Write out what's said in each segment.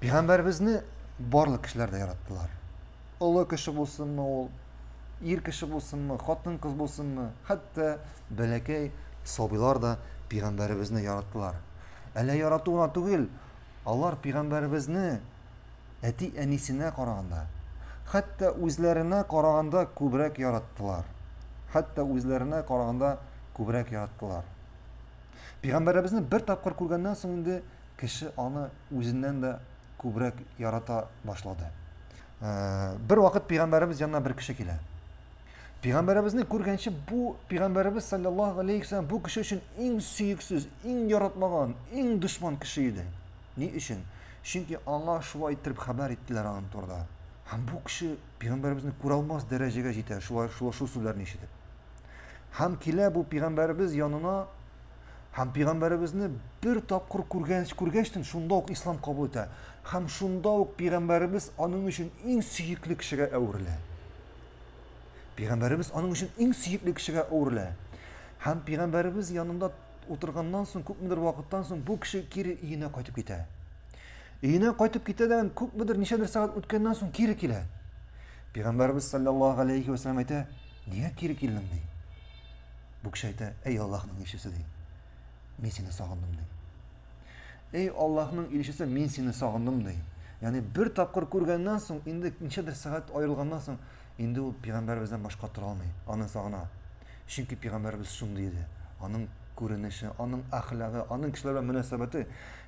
Пәйгамбәребезне барлык кешеләр дә яраттылар. Олы кеше булсынмы ул, ир кеше булсынмы, хатын кыз булсынмы, хәтта бәләкәй сабыйлар да пәйгамбәребезне яраттылар. Әллә ярату гына түгел, алар пәйгамбәребезне әти-әнисенә караганда, хәтта үзләренә караганда күбрәк яраттылар. Хәтта үзләренә караганда күбрәк яраттылар. Пәйгамбәребезне бер тапкыр күргәннән соң инде кеше аны үзеннән дә күбрәк ярата башлады. Бер вакыт пигамбәребез янына бер кеше килә. Пигамбәребезне күргәнче бу пигамбәребез саллаллаһу алейхи вассалам бу кеше өчен иң сөексез, иң яратмаган, иң дошман кеше иде. Ни өчен? Чөнки аңа шулай итеп хәбәр иттеләр аның турында. Һәм бу кеше пигамбәребезне күрә алмас дәрәҗәгә җитә, шулай шулай шул сүзләрне ишетеп. Һәм килә бу пигамбәребез янына Һәм пигамбәребезне бер тапкыр күргәч, күргәчтен шунда ук ислам кабул итә. Һәм шунда ук пигамбәребез аның өчен иң сөекле кешегә әверелә. Пигамбәребез аның өчен иң сөекле кешегә әверелә. Һәм пигамбәребез янында утырганнан соң, күпмедер вакыттан соң бу кеше кире өенә кайтып китә. Өенә кайтып китә дә күпмедер ничәдер сәгать үткәннән соң кире килә. Пигамбәребез саллаллаһу алейхи ва саллям әйтә, "Нигә кире килдең?" ди. Бүкчәйтә, Әй Аллаһның илчесе, ди. Мин сине сагындым, ди. Әй Аллаһның илчесе, мин сине сагындым, ди. Яни бер тапкыр күргәннән соң, инде ничәдер сәгать аерылганнан соң, инде ул пигамбәребездән башка тора алмый, аны сагына. Чөнки пигамбәребез шундый иде. Аның күренеше, аның әхлагы, аның кешеләр белән мөнәсәбәте.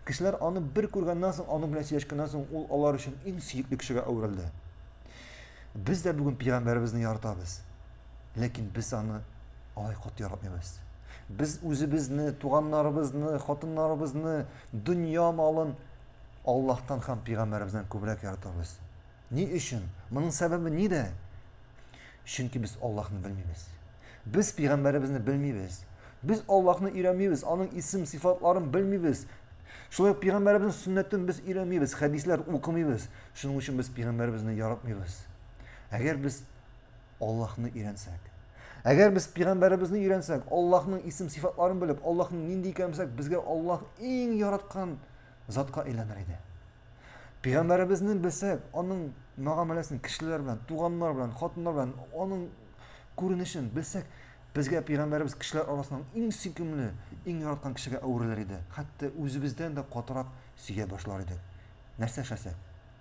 Кешеләр аны бер күргәннән соң, аның белән сөйләшкәннән соң, ул алар өчен иң сөекле кешегә әверелде. Без дә бүген пигамбәребезне яратабыз. Ләкин без аны алай каты яратмыйбыз. Без үзебезне, туганнарыбызны, хатыннарыбызны, дөнья малын Аллаһтан һәм пигамбәребездән күбрәк яратабыз. Ни өчен? Моның сәбәбе нидә? Чөнки без Аллаһны белмибез. Без пигамбәребезне белмибез. Без Аллаһны өйрәнмибез, аның исем сифатларын белмибез. Шулай ук пигамбәребезнең сөннәтен без өйрәнмибез, хәдисләр укымыйбыз. Шуның өчен без пигамбәребезне яратмыйбыз. Әгәр без Аллаһны өйрәнсәк. Әгәр без пигамбәребезне өйрәнсәк, Аллаһның исем-сифатларын белеп, Аллаһның нинди икәнен белсәк, безгә Аллаһ иң яраткан затка әйләнер иде. Пигамбәребезне белсәк, аның мәгамәләсен кешеләр белән, туганнар белән, хатыннар белән, аның күренешен белсәк, безгә пигамбәребез кешеләр арасының иң сөйкемле, иң яраткан кешегә әверелер иде. Хәтта үзебездән дә катырак сөя башлар идек. Нәрсә эшләсәк?